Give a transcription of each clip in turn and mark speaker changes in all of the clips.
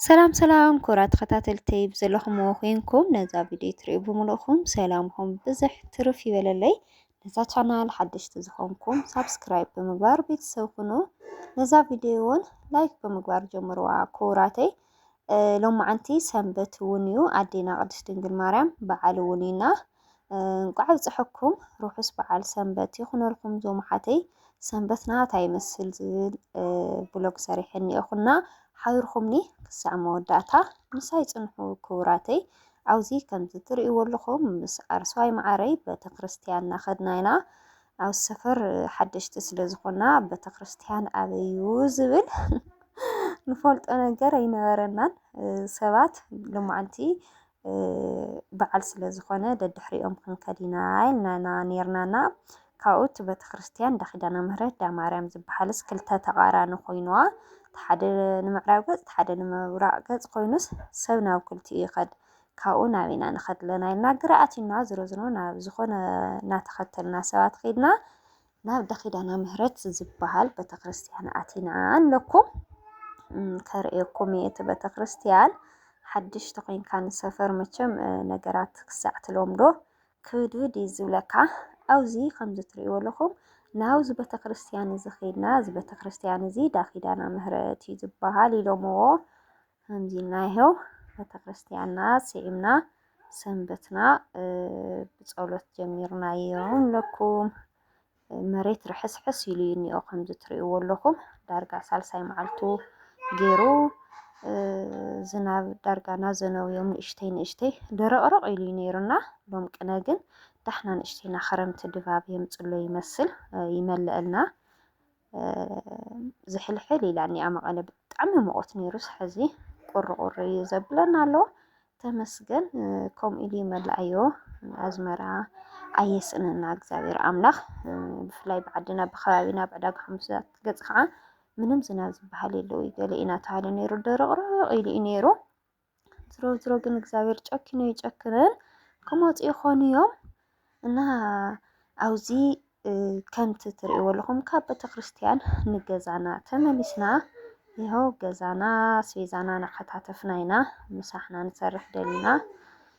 Speaker 1: ሰላም ሰላም ኩራ ተኸታተልተይ ብዘለኹምዎ ኮይንኩም ነዛ ቪድዮ ትሪኡ ብምልእኹም ሰላምኹም ብዝሕ ትርፍ ይበለለይ። ነዛ ቻናል ሓደሽቲ ዝኾንኩም ሳብስክራይብ ብምግባር ቤተሰብ ኩኑ። ነዛ ቪድዮ እውን ላይክ ብምግባር ጀምርዋ ክቡራተይ። ሎማዓንቲ ሰንበት እውን እዩ ኣዴና ቅድስት ድንግል ማርያም በዓል እውን ኢና እንቋዕ ኣብፀሐኩም ርሑስ በዓል ሰንበት ይኹነልኩም ዞም ሓተይ ሰንበትና ታይ ይመስል ዝብል ብሎግ ሰሪሐ እኒኤኹና ሓቢርኹምኒ ክሳዕ መወዳእታ ምሳይ ፅንሑ ክቡራተይ ኣብዚ ከምዚ ትርእይዎ ኣለኹም ምስ ኣርሰዋይ መዓረይ ቤተክርስትያን እናኸድና ኢና ኣብ ሰፈር ሓደሽቲ ስለ ዝኾና ቤተክርስትያን ኣበዩ ዝብል ንፈልጦ ነገር ኣይነበረናን ሰባት ሎማዓንቲ በዓል ስለ ዝኾነ ደድሕሪኦም ክንከድ ኢና ኢልና ኔርናና። ካብኡ እቲ ቤተክርስትያን እንዳ ኪዳነ ምህረት እንዳ ማርያም ዝበሃልስ ክልተ ተቓራኒ ኮይኑዋ እቲ ሓደ ንምዕራብ ገፅ እቲ ሓደ ንምብራቕ ገፅ ኮይኑስ ሰብ ናብ ክልቲኡ ይኸድ ካብኡ ናብ ኢና ንኸድ ኣለና ኢልና ግራ ኣትዩና ዝሮ ዝሮ ናብ ዝኾነ እናተኸተልና ሰባት ከይድና ናብ እንዳ ኪዳነ ምህረት ዝበሃል ቤተክርስትያን ኣቲና ኣለኩ ከርእየኩም እየ እቲ ቤተክርስትያን ሓድሽ ተኮይንካ ንሰፈር መቸም ነገራት ክሳዕ ትለምዶ ክብድብድ እዩ ዝብለካ። ኣብዚ ከምዚ ትርእይዎ ኣለኹም ናብዚ ቤተ ክርስትያን እዚ ኸይድና እዚ ቤተ ክርስትያን እዚ ዳኺዳና ምህረት እዩ ዝበሃል ኢሎምዎ ከምዚ ኢልና ይሀው ቤተክርስቲያንና ስዒምና ሰንበትና ብጸሎት ጀሚርና እዮም ለኩም መሬት ርሕስሕስ ኢሉ እዩ እኒኦ ከምዚ ትርእይዎ ኣለኹም ዳርጋ ሳልሳይ መዓልቱ ገይሩ ዝናብ ዳርጋ ናዘነው እዮም ንእሽተይ ንእሽተይ ደረቕረቕ ኢሉ እዩ ነይሩና ሎም ቅነ ግን ዳሕና ንእሽተይና ክረምቲ ድባብ የምፅሎ ይመስል ይመልአልና ዝሕልሕል ኢላኒ ኣብ መቐለ ብጣዕሚ ሙቐት ነይሩ ሕዚ ቁርቁር እዩ ዘብለና ኣሎ ተመስገን ከምኡ ኢሉ ይመልኣዮ ኣዝመራ ኣየስእነና እግዚኣብሔር ኣምላኽ ብፍላይ ብዓድና ብከባቢና ብዕዳጋ ሓሙሳት ገፅ ከዓ ምንም ዝናብ ዝበሃል የለውይ ገለ ኢና ተሃለ ነይሩ ደረቕረቕ ኢሉ እዩ ነይሩ ዝሮ ዝሮ ግን እግዚኣብሔር ጨኪኑ ይጨክንን ክመፁ ይኾኑ እዮም እና ኣብዚ ከምቲ ትርእይዎ ኣለኹም ካብ ቤተክርስትያን ንገዛና ተመሊስና ይኸው ገዛና ኣስቤዛና እናከታተፍና ኢና ምሳሕና ንሰርሕ ደሊና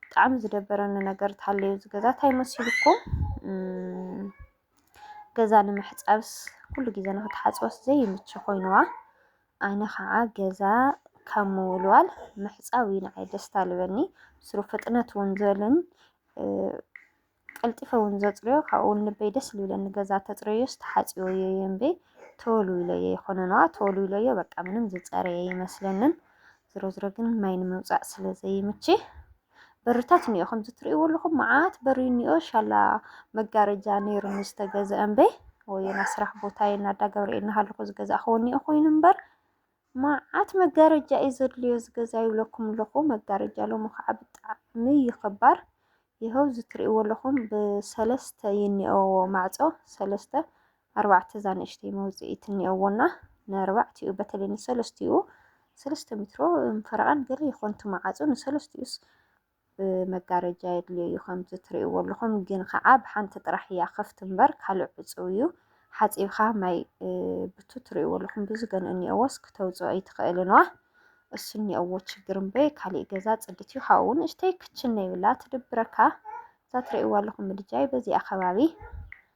Speaker 1: ብጣዕሚ ዝደበረኒ ነገር ተሃለዩ እዚ ገዛ እንታይ መሲሉኩም ገዛ ንምሕፃብስ ኩሉ ግዜ ንክትሓፅበስ ዘይምች ኮይኑዋ ኣነ ከዓ ገዛ ካብ ምውልዋል ምሕፃብ እዩ ንዓይ ደስታ ልበኒ ስሩ ፍጥነት እውን ዝበልን ቀልጢፈ ውን ዘጽርዮ ካብኡ ውን ልበይ ደስ ልብለኒ ገዛ ተጽረዮስ ተሓጽዮዮ እየ እምበይ ተወልዊለዮ ይኮነንዋ ተወልዊለዮ በቃ ምንም ዝጸረየ ይመስለንን ዝሮ ዝሮ ግን ማይ ንምውጻእ ስለ ዘይምቺ በርታት እኒኦ ከምዚ ትርእይዎ ኣለኹም መዓት በሪ እኒኦ ሻላ መጋረጃ ነይሩኒ ዝተገዝአ እምበይ ወይና ስራሕ ቦታዬ ናዳ ገብርኤል ናሃለኹ ዝገዛእኽዎ እኒኦ ኮይኑ እምበር ማዓት መጋረጃ እዩ ዘድልዮ እዚ ገዛ ይብለኩም ኣለኹ። መጋረጃ ሎሚ ከዓ ብጣዕሚ እዩ ኸባር። ይኸው እዚ ትሪእዎ ኣለኹም ብሰለስተ እዩ እኒኦዎ ማዕፆ ሰለስተ ኣርባዕተ እዛ ንእሽተይ መውፅኢት እኒኦዎና ንኣርባዕቲኡ በተለይ ንሰለስቲኡ ሰለስተ ሜትሮ ፈረቓን ገለ ይኾንቱ ማዓፆ ንሰለስቲኡስ መጋረጃ የድልዮ እዩ ከምዚ ትርእይዎ ኣለኹም ግን ከዓ ብሓንቲ ጥራሕ እያ ክፍት እምበር ካልእ ዕፅው እዩ ሓፂብካ ማይ ብቱ ትርእይዎ ኣለኹም ብዙ ገን እኒኦዎስ ክተውፅኦ ኣይትኽእልንዋ እሱ እኒኦዎ ችግር እምበይ ካሊእ ገዛ ፅድት እዩ ካብኡ ንእሽተይ ክችን ነይብላ ትድብረካ እዛ ትርእይዎ ኣለኹም ምድጃይ በዚኣ ከባቢ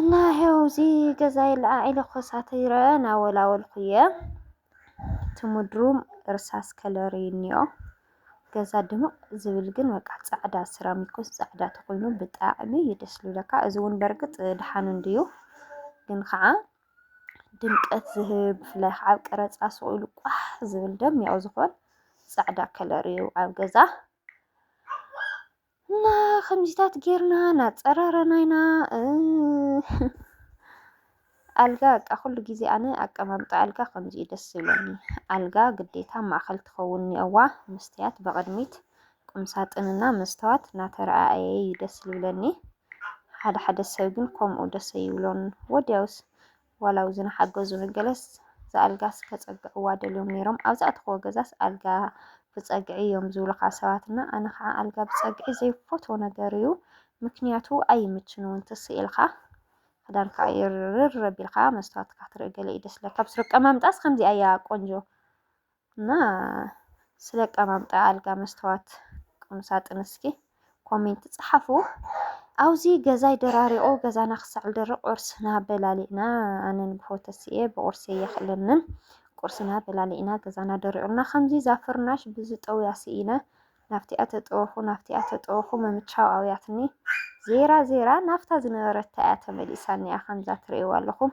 Speaker 1: እና ይሄው እዚ ገዛ ይለዓዒ ለኮሳት ይረአ ናወላወልኩ እየ እቲ ምድሩ እርሳስ ከለር እዩ እኒኦ ገዛ ድምቕ ዝብል ግን በቃ ፃዕዳ ስራሚኮስ ፃዕዳ ተኮይኑ ብጣዕሚ እዩ ደስ ዝብለካ እዚ እውን በርግፅ ድሓን እንድዩ ግን ከዓ ድምቀት ዝህብ ብፍላይ ከዓ ኣብ ቀረፃ ስቕ ኢሉ ቋሕ ዝብል ደሚቑ ዝኾን ፃዕዳ ከለር እዩ ኣብ ገዛ እና ከምዚታት ጌርና ናፀራረና ኢና ኣልጋ በቃ ኩሉ ግዜ ኣነ ኣቀማምጣ ኣልጋ ከምዚ እዩ ደስ ዝብለኒ። ኣልጋ ግዴታ ማእኸል ትኸውን እኒኦዋ መስትያት ብቕድሚት ቁምሳጥንና መስተዋት እናተረኣየ እዩ ደስ ዝብለኒ። ሓደ ሓደ ሰብ ግን ከምኡ ደስ ኣይብሎን። ወዲያውስ ዋላ ኣብዚ ንሓገዙ ንገለስ ዝኣልጋስ ከጸግዕዋ ደልዮም ነይሮም ኣብዛ እትኸወ ገዛስ ኣልጋ ብጸግዒ እዮም ዝብሉኻ ሰባትና ኣነ ከዓ ኣልጋ ብጸግዒ ዘይፈትዎ ነገር እዩ ምክንያቱ ኣይምችን እውን ትስኢልካ ክዳን ከዓ ይርር ኣቢልካ መስትዋትካ ትርኢ ገለ እዩ ደስ ለካ ብስሩ ቀማምጣስ ከምዚኣ እያ ቆንጆ እና ስለ ኣቀማምጣ ኣልጋ መስተዋት ቁምሳጥን እስኪ ኮሜንት ጸሓፉ። ኣብዚ ገዛይ ደራሪቑ ገዛና ክሳዕ ዝደርቕ ቁርስና በላሊዕና ኣነን ብሆተስየ ብቑርሲ የኽእለንን ቁርስና በላሊዕና ገዛና ደሪቑና ከምዚ እዛ ፍርናሽ ብዝጠውያ ስኢነ ናብቲኣ ተጠወኹ ናብቲኣ ተጠወኹ ምምቻው ኣውያትኒ ዜራ ዜራ ናፍታ ዝነበረታ እያ ተመሊሳኒያ ከምዛ ትርእይዋ ኣለኹም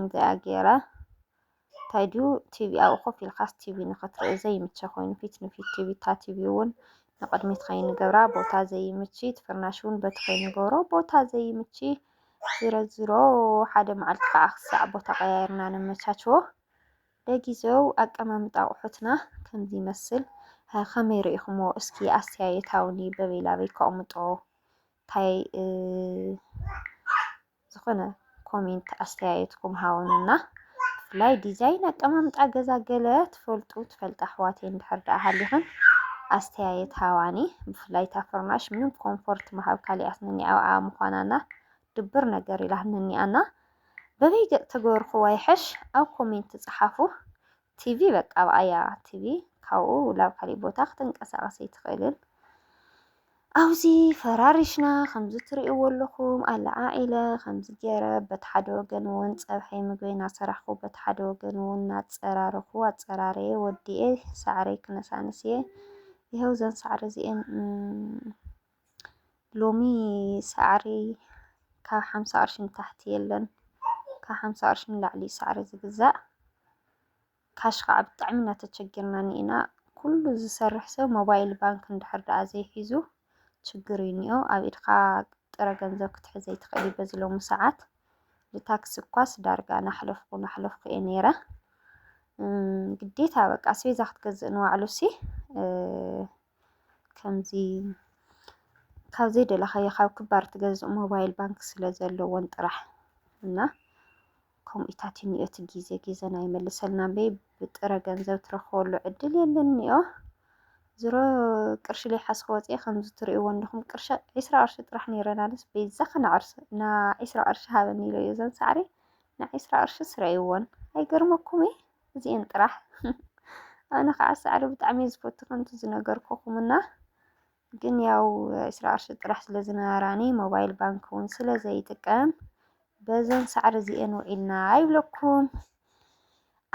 Speaker 1: እዚኣ ገይረ እንታይ ድዩ ቲቪ ኣብኡ ኮፍ ኢልካስ ቲቪ ንክትርኢ ዘይምቸ ኮይኑ ፊት ንፊት ቲቪ እታ ቲቪ እውን ንቅድሚት ከይንገብራ ቦታ ዘይምቺ እቲ ፍርናሽ እውን በቲ ከይንገብሮ ቦታ ዘይምቺ ዝሮ ዝሮ ሓደ መዓልቲ ከዓ ክሳዕ ቦታ ቀያይርና ነመቻችዎ ለጊዜው ኣቀማምጣ ኣቑሑትና ከምዚ ይመስል ከመይ ርኢኹምዎ እስኪ ኣስተያየታውኒ በበይ ላበይ ከቕምጦ እንታይ ዝኮነ ኮሜንት ኣስተያየትኩም ሃውኑና ብፍላይ ዲዛይን ኣቀማምጣ ገዛ ገለ ትፈልጡ ትፈልጣ ኣሕዋተይ እንድሕር ደኣ ሃሊኽን ኣስተያየት ሃዋኒ ብፍላይ እታ ፍርናሽ ምንም ኮምፎርት ምሃብ ካሊኣትኒ ኣብኣ ምዃናና ድብር ነገር ኢላትኒ ኣና በበይ ገጽ ተገበርኩዋ ይሕሽ ኣብ ኮሜንት ጽሓፉ ቲቪ በቃ ኣብኣያ ቲቪ ካብኡ ላብ ካሊእ ቦታ ክትንቀሳቀስ ኣይትኽእልን። ኣብዚ ፈራሪሽና ከምዚ ትርእይዎ ኣለኹም ኣለዓዒለ ከምዚ ገይረ በቲ ሓደ ወገን እውን ፀብሐይ ምግበይ እናሰራሕኩ በቲ ሓደ ወገን እውን እናፀራረኹ ኣፀራረየ ወዲኤ ሳዕረይ ክነሳንስ እየ። ይኸው እዘን ሳዕሪ እዚኤን ሎሚ ሳዕሪ ካብ ሓምሳ ቅርሺ ንታሕቲ የለን። ካብ ሓምሳ ቅርሺ ንላዕሊ እዩ ሳዕሪ ዝግዛእ። ካሽ ከዓ ብጣዕሚ እናተቸገርና እኒኤና። ኩሉ ዝሰርሕ ሰብ ሞባይል ባንክ እንድሕር ደኣ ዘይሒዙ ችግር እዩ እኒኦ። ኣብ ኢድካ ጥረ ገንዘብ ክትሕዝ ኣይትኽእል እዩ በዚ ሎሚ ሰዓት። ብታክሲ እኳስ ዳርጋ ናሕለፍኩ ናሕለፍኩ እየ ነይረ። ግዴታ በቃ ኣስቤዛ ክትገዝእ ንዋዕሉሲ ከምዚ ካብ ዘይደለኻዮ ካብ ክባር ትገዝእ ሞባይል ባንክ ስለ ዘለዎን ጥራሕ እና ከምኡታት እኒኦ እቲ ግዜ ግዜና ይመልሰልና እምበይ ብጥረ ገንዘብ ትረኽበሉ ዕድል የለን እኒኦ ዝሮ ቅርሺ ለይሓስኸ ወፅኤ ከምዚ ትሪእዎ እንዲኹም ቅርሺ ዒስራ ቅርሺ ጥራሕ ነይረን ኣነስ በይዛ ከነዕርሰ እና ዒስራ ቅርሺ ሃበኒ ኢለ እዮ ዘን ሳዕሪ ንዒስራ ቅርሺ ስረይዎን ኣይገርመኩም እዩ እዚኤን ጥራሕ ኣነ ከዓ ሳዕሪ ብጣዕሚ እየ ዝፈቱ ከምቲ ዝነገርኩኹም እና ግን ያው ዕስራ ቅርሺ ጥራሕ ስለ ዝነበራኒ ሞባይል ባንክ እውን ስለ ዘይጥቀም በዘን ሳዕሪ እዚኤን ውዒልና ኣይብለኩም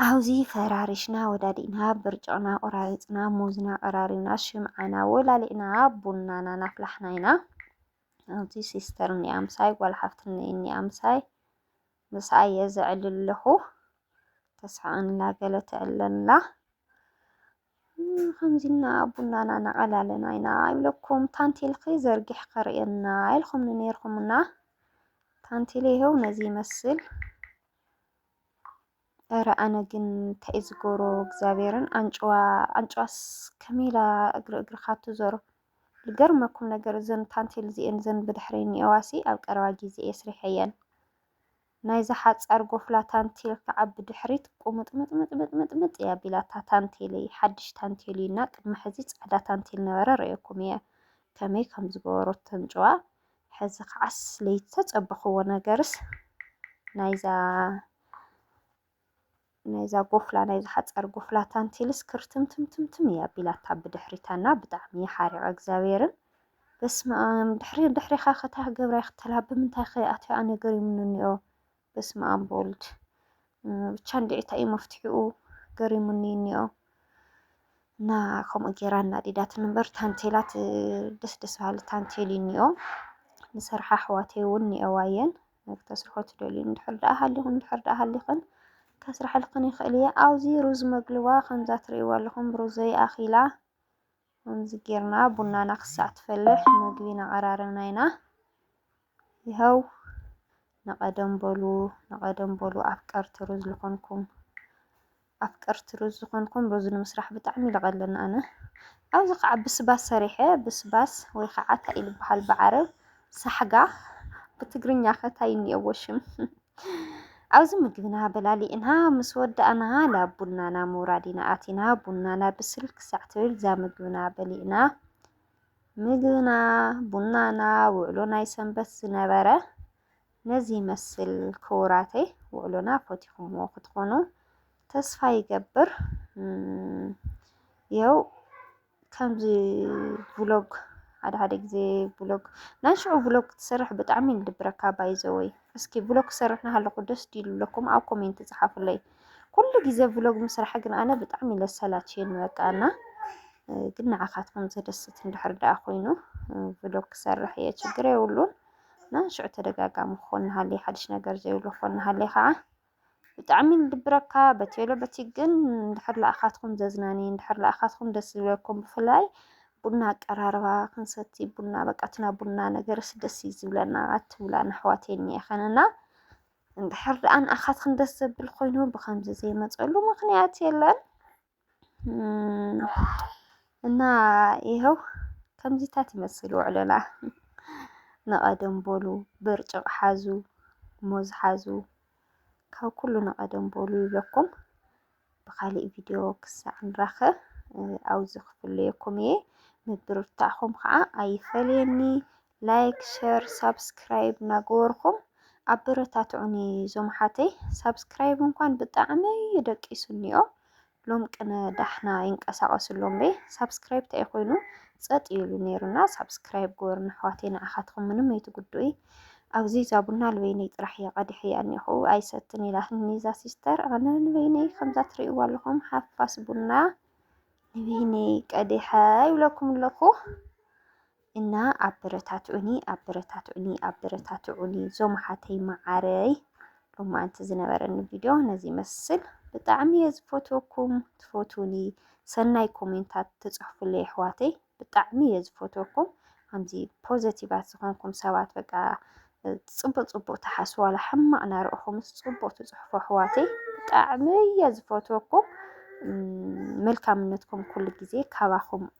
Speaker 1: ኣብዚ ፈራሪሽና ወዳዲእና ብርጭቕና ቆራሪፅና ሙዝና ቀራሪብና ሽምዓና ወላሊዕና ቡናና ናፍላሕና ኢና ኣብዚ ሲስተር እኒኣ ምሳይ ጓል ሓፍትና እኒኣ ምሳይ ምስኣ እየ ዘዕልል ኣለኹ ተስሕቐኒ ኣላ ገለ ተዕልለኒ ኣላ ከምዚ እና ቡናና ነቐላለና ኢና ይብለኩም ታንቴልኺ ዘርጊሕ ከርእየና ኢልኹምኒ ነይርኩምና ታንቴል ይኸው ነዚ ይመስል እረ ኣነ ግን እንታይ እዩ ዝገብሮ እግዚኣብሔርን ኣንጭዋ ኣንጭዋስ ከመይ ኢላ እግሪ እግርኻ ትዞሮ ልገርመኩም ነገር እዘን ታንቴል እዚኤን እዘን ብድሕረይ ዝኒኤዋሲ ኣብ ቀረባ ጊዜ እየ ስሪሐየን ናይዛ ሓጻር ጎፍላ ታንቴል ከዓ ብድሕሪት ቁምጥምጥምጥምጥምጥ እያ ኣቢላታ ታንቴለይ ሓድሽ ታንቴል እዩ እና ቅድሚ ሕዚ ጻዕዳ ታንቴል ነበረ ረኤኩም እየ ከመይ ከም ዝገበሮት ተንጭዋ ሕዚ ከዓስ ለይተጸበኽዎ ነገርስ ናይዛ ናይዛ ጎፍላ ናይ ዝሓጸር ጎፍላ ታንቴልስ ክርትምትምትምትም እያ ኣቢላታ ብድሕሪታ እና ብጣዕሚ ሓሪቀ እግዚኣብሔርን በስመኣም ድሕሪ ድሕሪኻ ከታይ ክገብራ ይክተላ ብምንታይ ከ ኣትያኣ ነገር ይምንኒኦ በስመኣም በወልድ ብቻ እንድዒታ እዩ መፍትሒኡ ገሪሙኒ እኒኦ እና ከምኡ ጌራ እናዲዳት ንበር ታንቴላት ደስ ደስ በሃሊ ታንቴል እኒኦ ንሰርሓ ኣሕዋተይ እውን እኒኦዋ እየን ንክተስርሖ ትደልዩ እንድሕር ደኣ ሃሊኹም እንድሕር ደኣ ሃሊኽን ከስርሐልክን ይኽእል እየ። ኣብዚ ሩዝ መግልዋ ከምዛ ትርእይዎ ኣለኹም ሩዘይ ኣኺላ ከምዚ ጌርና ቡናና ክሳዕ ትፈልሕ መግቢ ነቐራርብና ኢና። ይኸው ንቐደም በሉ ንቐደም በሉ ኣፍቀርቲ ሩዝ ዝኾንኩም ኣፍቀርቲ ሩዝ ዝኾንኩም ሩዝ ንምስራሕ ብጣዕሚ ይለቐለኒ ኣነ ኣብዚ ከዓ ብስባስ ሰሪሐ ብስባስ ወይ ከዓ እንታይ ይልብሃል ብዓረብ ሳሕጋ ብትግርኛ ከታይ እኒኦዎ ሽም ኣብዚ ምግብና በላሊእና ምስ ወዳእና ናብ ቡናና ምውራድ ኢና ኣቲና ቡናና ብስል ክሳዕ ትብል እዛ ምግብና በሊእና ምግብና ቡናና ውዕሎ ናይ ሰንበት ዝነበረ ነዚ ይመስል ክቡራተይ ውዕሎና ፈቲኹምዎ ክትኾኑ ተስፋ ይገብር የው ከምዚ ቭሎግ ሓደ ሓደ ግዜ ቭሎግ ናይ ሽዑ ቭሎግ ክትሰርሕ ብጣዕሚ ዝድብረካ ባይዘወይ እስኪ ቭሎግ ክሰርሕ ናሃለኹ ደስ ዲሉ ኣለኩም ኣብ ኮሜንት ጽሓፉለይ ኩሉ ግዜ ቭሎግ ምስራሕ ግን ኣነ ብጣዕሚ ለሰላችየኒ በቃ እና ግን ንዓኻትኩም ዘደስት እንድሕር ደኣ ኮይኑ ቭሎግ ክሰርሕ እየ ችግር የብሉን። እና ሽዑ ተደጋጋሚ ክኾን ንሃለየ ሓድሽ ነገር ዘይብሉ ክኾን ንሃለየ ከዓ ብጣዕሚ ዝድብረካ በቲ የሎ በቲ ግን እንድሕር ለኣኻትኩም ዘዝናኒ እንድሕር ለኣኻትኩም ደስ ዝብለኩም ብፍላይ ቡና ኣቀራርባ ክንሰቲ ቡና በቃ ትና ቡና ነገርስ ደስ እዩ ዝብለና ኣትብላ ንኣሕዋት የኒኤኸን እና እንድሕር ደኣ ንኣኻትኩም ደስ ዘብል ኮይኑ ብከምዚ ዘይመፀሉ ምክንያት የለን እና ይኸው ከምዚታት ይመስል ውዕሎና። ንቐደም በሉ ብርጭቕ ሓዙ፣ ሙዝ ሓዙ፣ ካብ ኩሉ ንቐደም በሉ ይብለኩም። ብኻሊእ ቪድዮ ክሳዕ ንራኸብ ኣብዚ ክፍለየኩም እየ። ምብርታዕኹም ከዓ ኣይፈለየኒ። ላይክ ሸር ሳብስክራይብ ናገበርኩም ኣበረታትዑኒ ዞምሓተይ ሳብስክራይብ እንኳን ብጣዕሚ እዩ ደቂሱኒኦ ሎም ቅነ ዳሕና ይንቀሳቀሱ ኣሎም በይ ሳብስክራይብ እንታይ ኮይኑ ፀጥ ይሉ ነይሩና ሳብስክራይብ ግበሩ ንኣሕዋተይ ንዓኻትኩም ምንም ኣይትጉድኡ ኣብዚ እዛ ቡና ልበይነይ ጥራሕ እየ ቀዲሐያ እኒኹ ኣይሰትን ኢላትኒ እዛ ሲስተር ኣነ ንበይነይ ከምዛ ትርእይዋ ኣለኹም ሓፋስ ቡና ንበይነይ ቀዲሐ ይብለኩም ኣለኹ እና ኣበረታትዑኒ ኣበረታትዑኒ ኣበረታትዑኒ ዞም ሓተይ መዓረይ ሎማዓንቲ ዝነበረኒ ቪድዮ ነዚ ይመስል ብጣዕሚ እየ ዝፈትወኩም ትፈትውኒ ሰናይ ኮሜንታት ትፅሕፉለይ ኣሕዋተይ ብጣዕሚ እየ ዝፈትወኩም ከምዚ ፖዘቲቫት ዝኾንኩም ሰባት በቃ ፅቡቅ ፅቡቅ ትሓስቡ ዋላ ሕማቅ ናርኦኹምስ ፅቡቅ ትፅሕፉ ኣሕዋተይ ብጣዕሚ እየ ዝፈትወኩም መልካምነትኩም ኩሉ ግዜ ካባኹም